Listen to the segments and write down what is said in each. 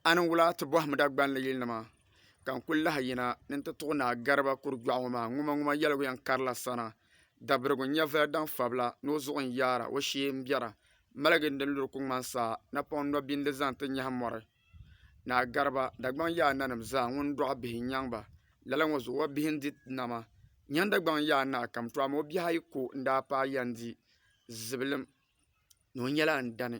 a niŋ wula ti bɔhim Dagbani yilinima ka n-kul lahi yina ni nti tuɣi Naa Gariba Kurigbɛɣu ŋɔ maa ŋumaŋuma yɛligu yɛn karila sana, Dabirigu nyɛvili daŋ fabila ni o zuɣu n-yaara o shee m-bɛra, maligi n-di luri ku ŋmani saa, napɔŋ nɔbi n-di zaŋ ti nyahi mɔri. Naa Gariba, Dagbaŋ yaa a nanim zaa, ŋun dɔɣi bihi n-nyaŋ ba. Lala ŋɔ zuɣu o bihi n-di nama. Nyahi Dagbaŋ yaa naa kam to amaa o bihi ayi ko n-daa paai ya n-di zibilim ni o nyɛla n dani.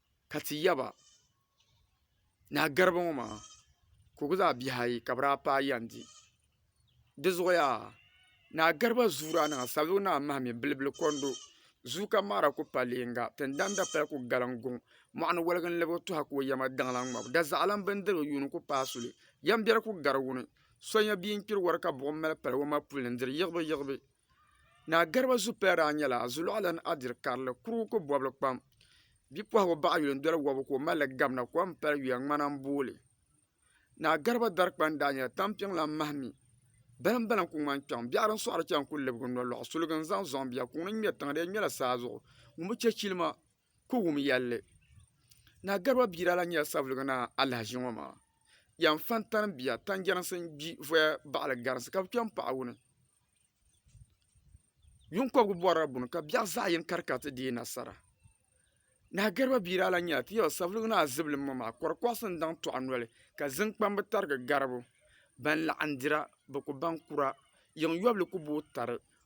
ka ti yaba ni a garibu ŋɔ maa ka o ku zaa bihi ayi ka bi daa paai yɛn di di zuɣuya ni a gariba zuu daa niŋa sabigi ni a mahimi bilibili kondo zuu kam maa daa ku pa leega tingbani dapali ku galiŋ guŋ mɔɣu ni waligi n lɛbi o tuha ka o yɛma daŋla n ŋmabu da zaɣa lan bini dirigu yuuni ku paai suli yɛm biɛri ku gari wuni so nyɛ bia n kpiri wari ka buɣim mali pali o ma puli n diri yiɣibu yiɣibu. Naa Garba Zuppiya daa nyɛla Zuluɣalana Adiri Karili kurugu ko bɔbili kpam. Bipuɣigu baɣ yuli n-doli wɔbigu ka o mali li gabina kom m-pali yuya ŋmana m-booi li. Naa Garba dari kpani daa nyɛla tampiŋ lan mahi mi. Balim balim ku ŋmani kpiɔŋ biɛɣu din sɔɣiri chana ku libigi nolɔɣu suliga n-zaŋ zɔŋ bia. Kuŋ ni ŋmɛri tiŋa di yɛn ŋmɛla saa zuɣu ŋun bi chɛ chilima. ku wum yɛlli ni a Garba Biira lan nyɛla Savelugu Naa alahaʒi ŋɔ maa, Yan Fantani bia Tanjɛrinsi n-gbi voya baɣili Garinsi ka bɛ kpe m-paɣi wuni. Yuŋ kɔbigu bɔrila buni ka biɛɣu zaɣ yini kari ka ti deei nasara. Naa Garba Biira lan nyɛla Tiyɔla Savelugu Naa zibilim ŋɔ maa kɔrikɔɣisi n-daŋ tɔɣu noli ka ziŋkpambi tarigi garibu. Ban laɣindira, bɛ ku baŋ kura, yiŋ yɔbili ku booi tari,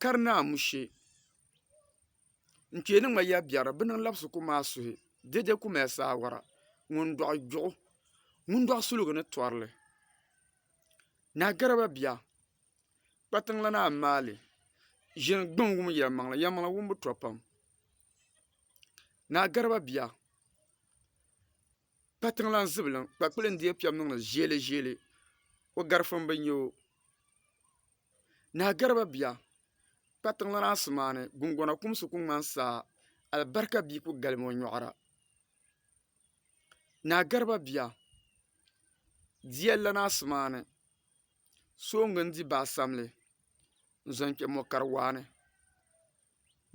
ka di ni amushe n kpee ni ŋma ya biɛri bi niŋ labisi ku maai suhi dɛdɛ ku mali saawara ŋun doɣi gbiɣu ŋun doɣi suligu ni torili naa garaba bia kpa tiŋ lana a ni maali ʒini gbiŋ wum yɛlimaŋli yɛlimaŋli wumbu to pam naa garaba bia kpa tiŋ lana zibiliŋ kpakpili n deei piɛri niŋdi ʒiɛliʒiɛli o garifuni bi nya o Naa Garba bia, kpatiŋ lana asimaani gungona kumsi ku ŋmani saa, alibarika bia ku galimi o nyɔɣira. Naa Garba bia, diya lana asimaani soongi n-di baa samli n-zaŋ kpe mɔ kari waa ni.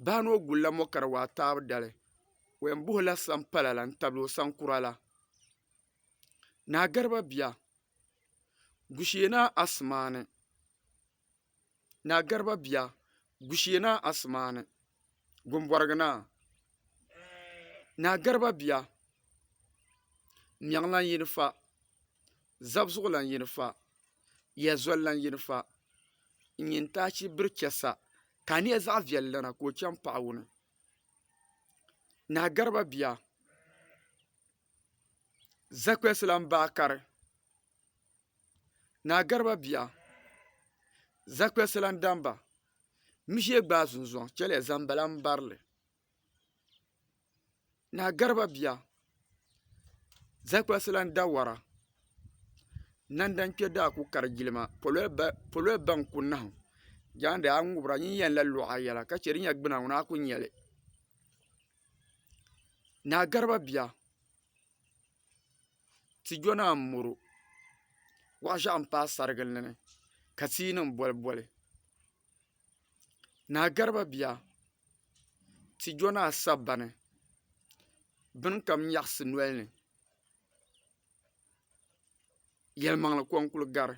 Baa ni o gulila mɔ kari waa taabu dali, o yɛn buɣila sampala la n-tabili o saŋkura la. Naa Garba bia, Gushena Asimaani Naa Gariba bia Gushena Asimaani Gumbɔrigi Naa Naa Gariba bia Mɛɣiŋlan yini fa Zabzuɣulan yini fa Yɛzulilan yini fa N nyin taachi biri chɛ sa Ka a niɛ zaɣ viɛlli dana ka o chaŋ paɣa wuni Naa Gariba bia Zakwesi lan bahi kari Naa Gariba bia. Zakwesi lan dan ba, Mi ʒiɛ gbaai zunzuaŋ chɛliya zaŋ bala m-bari li. Naa Gariba bia. Zakwesi lan da wara. Nandan kpe daa ku kari jilima, pololi baŋ ku nahim. Jaande a ŋubira nyin yɛn la luɣ a yɛla ka chɛ di nya gbuna ŋuna a ku nya li. Naa Garba Biya ti yo naa m-mɔro wahu ʒiɛɣu m-paai sarigili ni ka tia nima boli boli naa Garba Biya ti yo naa Sagbani bini kam nyaɣisi noli ni yɛlimaŋli ko n-kuli gari.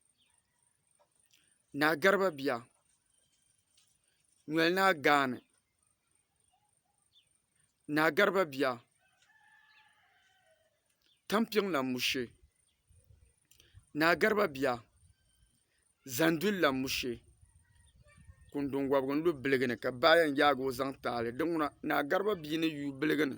Naa Garba Biya noli naa gaani Naa Garba Biya tampiŋ lan mushi Naa Garba Biya zanduli lan mushi kundun wɔbigu n-lu biligi ni ka baa yɛn yaagi o zaŋ taali di ŋuna Naa Garba Biya ni yuui biligi ni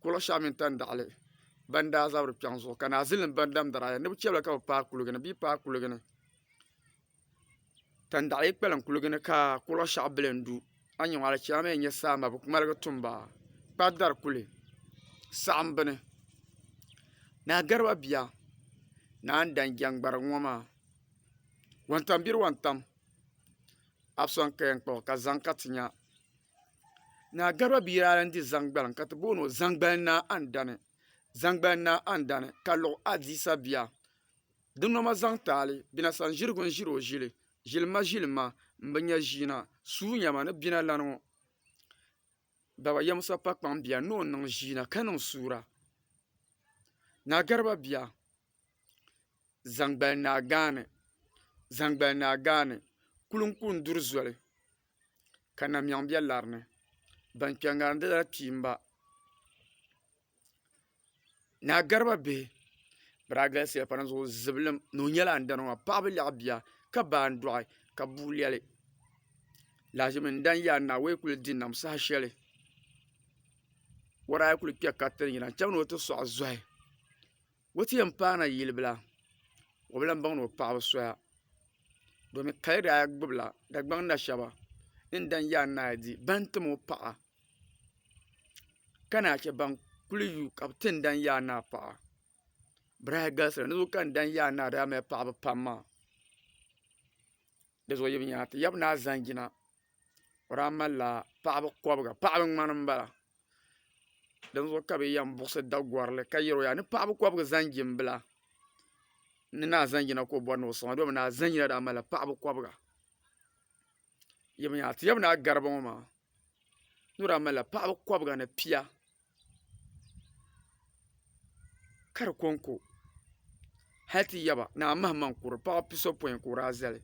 kuli shɛli mini tandaɣili ban daa zabiri kpɛŋ zuɣu ka naazili nim ban damdara aya ni bi chɛ ba ka bi paai kuligi ni bee bi paai kuligi ni tandaɣi yi kpalim kuligi ni ka kuli shɛli bili n du a yi nyɛ maa di chɛmi a ni yɛn nyɛ salima bi ŋmaligi tumba kpa dari kuli saɣam bini naa gariba bia naa n dan jɛngbarigu ŋɔ maa wuntaŋ biri wuntaŋ a bi sɔŋ ka yɛn kpabo ka zaŋ ka ti nya Naa Garba bia daa lahi di zaŋgbaliŋ ka ti booni o Zaŋgbali Naa Andani. Zaŋgbali Naa Andani ka luɣ Adiisa bia. Di noma zaŋ taali Bina Sanzirigu n-ʒiri o ʒili. Ʒilima ʒilima m-bi nya ʒiina. Suunyama ni Bina lana ŋɔ Baba Yamusa Pakpaŋ bia ni o niŋ ʒiina ka niŋ suura. Naa Garba bia. Zaŋgbal Naa Gaani Zaŋgbal Naa Gaani kuli n kuli duri zoli ka namiɛɣu bɛ lari ni ban kpɛ ŋarim di lala kpiimba Naa Garba Bihi bi daa galisiya pam di zuɣu zibilim ni o nyɛla andana maa paɣa bi lɛɣi bia ka ba n dɔɣi ka bu lɛli lahaʒimi n dani yaa naawuni kuli di nam saha shɛli o daa kuli kpɛ ka ti yina n chaŋ ni o ti sɔɣi zɔhi O ti yɛn paai na yili bila o bi lahi baŋ ni o paɣaba soya domi kaya daa gbubi la Dagbaŋ na shɛba ni n dani yaa naa di bini n tim o paɣa ka naayi chɛ ban kuli yu ka bi ti n dani yaa naa paɣa bi daa galisi la ni bi ka n dani yaa naa daa mali paɣaba pam maa di zuɣu yi bi yɛli ti yaba naa zanjina o daa mali la paɣaba kɔbiga paɣaba ŋmani n bala. din zuɣu ka bɛ yɛn buɣisi Dagɔrili ka yɛli o yaa ni paɣ bi kɔbigi zaŋjimbila ni naa zaŋjina ka o bɔri ni o sɔŋ a dɔlimi naa zaŋjina daa malila paɣ bi kɔbiga ti yɛm naa Gariba ŋɔ maa ni o daa malila paɣ bi kɔbiga ni pia ka di kɔŋko hali ti yaba naa mahimaŋ kuri paɣ bi pi sɔpɔin ka o daa zali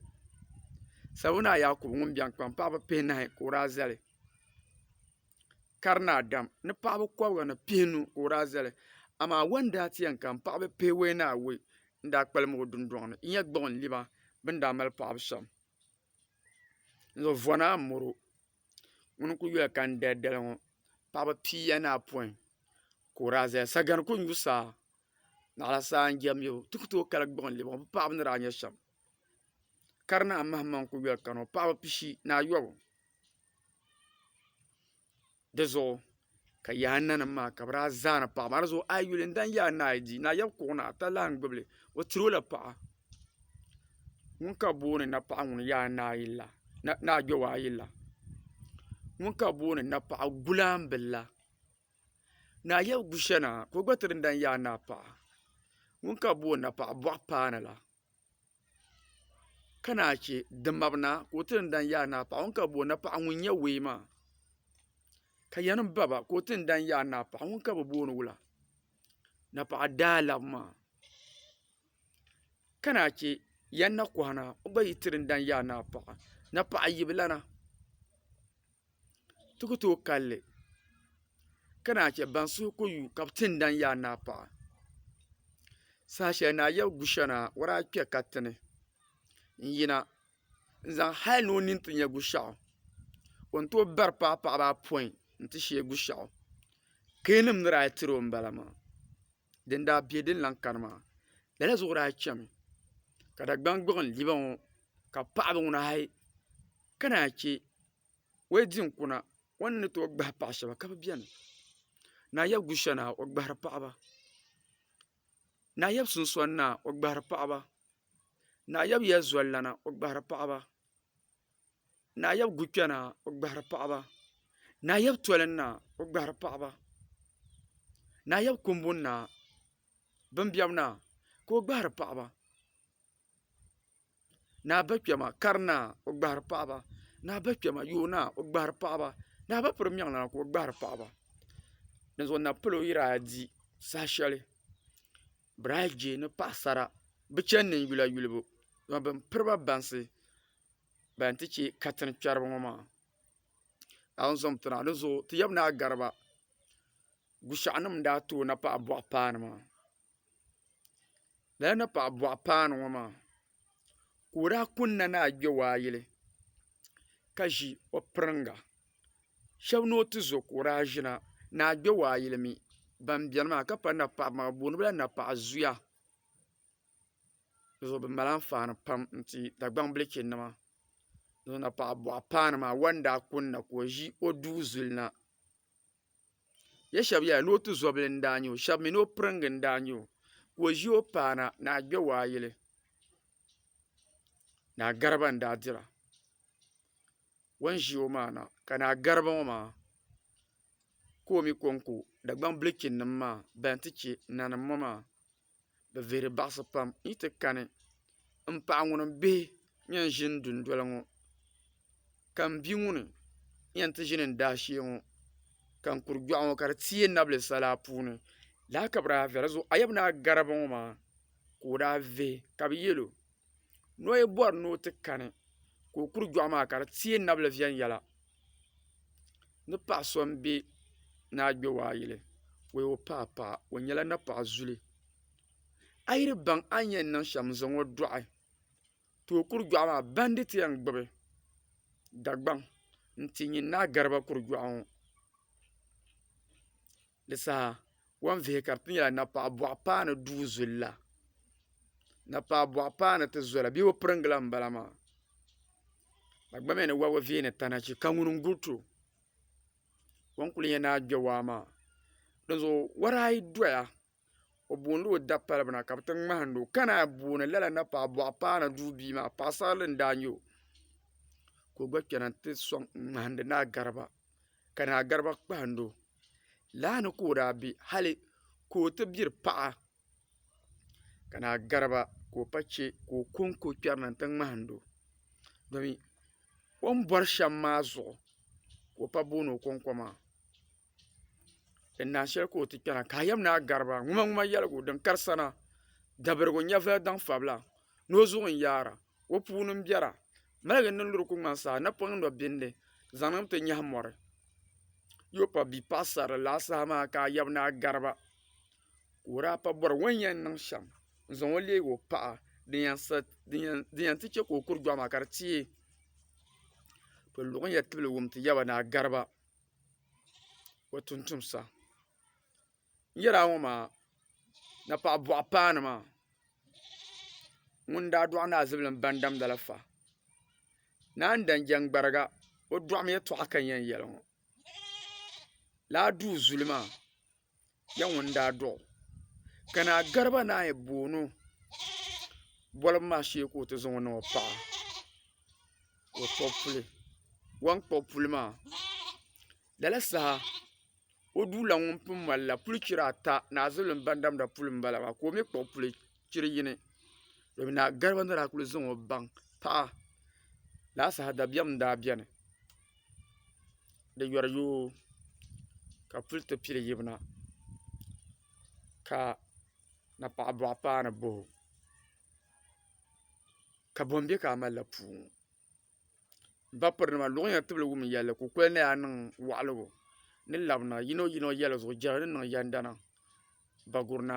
Sabiwu naa Yaakubu ŋun bɛnkpaŋ paɣ bi pihi nahi ka o daa zali ka di naa dam ni paɣaba kobga ni pihinu ka o daa zali amaa wo n daa ti yɛn kana paɣaba pihinu wo ni a wo n daa kpalim o dundoŋ ni n yɛn kpuɣi n liba bi ni daa mali paɣabu shɛm n zaŋ vona n moro ŋuni n kuli yuli ka n dali dali ŋo paɣaba piiya ni apoin ka o daa ʒɛya sagani ku n yu saa naɣala saa n jɛm yɛlo ti ku tooi kali kpuɣi n liba ŋo bi paɣaba ni daa nyɛ shɛm ka di naa maham maŋ n kuli yuli kana ŋo paɣaba pishi ni ayobu di zuɣu ka yaɣ a nanim maa ka bi daa zani paɣa maa dizuɣu a yi yuli n dani yaɣ a ni a yi di ni a yɛbi kpuɣu ni ata lan gbubili o tirola paɣa ŋun ka bi booni napaɣa ŋun yaɣ a ni a yi la ni a kpɛo a yi la ŋun ka bi booni napaɣa gulambi la ni a yɛbi gu shɛli na ka o gba ti di n dani yaɣ a ni a paɣa ŋun ka bi booni napaɣa boɣa paanu la ka naa chɛ dimabina ka o ti ni dani yaai naa paɣa ŋun ka bi bo napaɣa ŋun nyɛ wee maa ka yɛn baba ka o ti ni dani yaai naa paɣa ŋun ka bi booni wula napaɣa daalab maa ka naa chɛ yɛn na kohi naa o gba yi tiri ni dani yaai naa paɣa napaɣa yibila na ti ku tooi kalli ka naan chɛ ban suhu ku yu ka bi ti n daŋ yaai ni a paɣa saha shɛli ni a yɛbi gu shɛli na a wara a kpɛ katinɛ n yina n zaŋ hali ni o nini ti nyɛ gu shɛɣu o ni tooi bari paai paɣaba apɔin n ti shee gu shɛɣu keenim ni daa tiro n bala maa din daa bɛ din lahi kani maa lala zuɣu daa chɛmi ka Dagbaŋ gbuɣum liba ŋo ka paɣaba ŋuna hal ka naan chɛ o yi di n kuna o ni ni tooi gbahi paɣa shab ka bi biɛni naa yɛb gushɛ naa o gbahari paɣaba naa yɛb sunsoni naa o gbahari paɣaba naa yɛb yɛli zolilana o gbahari paɣaba Naayab gu kpɛna o gbahiri paɣaba naayab toli na o gbahiri paɣaba naayab kuŋbu na bin biɛbi na ka o gbahiri paɣaba naa ba kpɛma kari na o gbahiri paɣaba naa ba kpɛma yooi na o gbahiri paɣaba naa ba piri meŋ na ka o gbahiri paɣaba dinzuɣu na palo yiri a di saha sheli. Biraajee ni paɣasara bi chɛni ni yula yulibu dama bin piriba bansi ban ti chɛ katiŋ kpɛribi ŋɔ maa a ni zumdi na a ni zooi ti yaba ni a gariba Gushaɣu nim n daa too napaɣa buɣa paanu maa lala napaɣa buɣa paanu ŋɔ maa ka o daa kunna ni a gbɛ o a yili ka ʒi o piriŋga shab ni o ti zo ka o daa ʒina ni a gbɛ o a yili mi ban biɛni maa ka paŋ napaɣaba maa bi booni bi la napaɣa zuya bi zuɣu bi mali anfaani pam n ti dagbaŋ bilchi nima napaɣa buɣa paanu maa o ni daa kunna ka o ʒi o duu zuli na Ya shɛba yɛla ni o tuzobili n-daa nya o shɛba mi ni o piriŋga n-daa nya o ka o ʒi o paana ni a gbɛ waa yili ni a gariba n-daa dira o ni ʒi o maa na ka ni a gariba ŋɔ maa ka o mi kɔŋko Dagbaŋ bilichinnima maa bɛn ti che nanim ŋɔ maa. bi vihiri baɣisi pam n yi ti kani n paɣa ŋuni n bihi n yɛn zini du noli ŋɔ ka n bia ŋuni n yɛn ti zini n daa shɛɛ ŋɔ ka n kuri gbɛɣu ŋɔ ka di tɛɛ n nabili sala puuni lala ka bi daa vihira a yaba ni a garibu ŋɔ maa ka o daa vihi ka bi yiɛli o. noyi bɔri ni o ti kani ka o kuri dɔɣi maa ka di teei nabili viɛnyɛla ni paɣ so m-be ni a gbe waa yili o yi o paai paɣa o nyɛla napaɣ zuli a yi di baŋ a ni yɛn niŋ shɛm n-zaŋ o dɔɣi ka o kuri dɔɣi maa banditi yɛn gbubi Dagbaŋ n-ti nyin ni a gariba kuri dɔɣi ŋɔ Di saha o ni vihi ka di ti nyɛla napɔɣu buɣa paanu duu zuli la napɔɣu buɣa paanu ti zɔli bee o pirigi la n bala maa dagbamya ni wɔbigu vihi ni tana chi ka ŋuni n guli to o ni kuli nyɛ ni a gbɛ waa maa di zuɣu wɔri ayi dɔya o booni la o dapali bina ka bi ti ŋmahindi o ka naan yi booni lala napɔɣu buɣa paanu duu bia maa paɣasarili n daa nyɛ o ka o gba kpɛna n ti sɔŋ ŋmahindi ni a gariba. ka Naa Garba kpahindi o. Laa ni ka o daa be hali ka o ti biri paɣa ka Naa Garba ka o pa che ka o ko n-ko kpɛri na nti ŋmahindi o domi o ni bɔri shɛm maa zuɣu ka o pa booni o kɔŋko maa. Din naan shɛli ka o ti kpɛri na ka a yɛm Naa Garba ŋumaŋuma yɛligu din kari sana dabirigu nyɛvili daŋ fabila ni o zuɣu n-yaara. o puuni n biɛra maligi niŋ di ku ŋmani saa napoŋ ni o bindi zaŋ ti nyaɣa mori n yuli pa bia paɣa sarili laa saha maa ka a yaba ni a gariba ka o daa pa bori o ni yɛn niŋ shɛm n zaŋ o leegi o paɣa din yɛn ti chɛ ka o kuri dɔɣu maa ka di tiɛ bi luɣu ni yɛn tibili wum ti yaba ni a gariba o tuuntumsa n yɛri a ŋɔ maa na paɣi buɣi paanu maa ŋuni daa dɔɣi naa zibili n ba damda la fa naan dan jɛn gbariga o dɔɣimi yɛtɔɣa ka n yɛn yɛli ŋɔ laa duu zuli maa nyɛ ŋuni daa dɔɣi o ka naa Garba naa yɛn boogi o bolibu maa shee ka o ti zaŋ o niŋ o paɣa ka o kpuɣi puli o ni kpuɣi puli maa. Lala saha o duula ŋun pun malila puli chiri ata ni a zulilim ban damda puli n bala maa ka o mi kpuɣi puli chiri yini domi naa gariba ni daa kuli zaŋ o baŋ paɣa lala saha dabiɛm n daa beni di yɔri yoo ka puli ti pili yibina ka napaɣa buɣa paanu bahi o ka bɔn be ka a malila puu ŋɔ. Bapirinima luɣiyiŋga tibili wum yɛlli ka o kuli naya niŋ waɣiligu ni labina yinoyino yɛlizuɣu jɛra ni niŋ yɛndana Bagurina.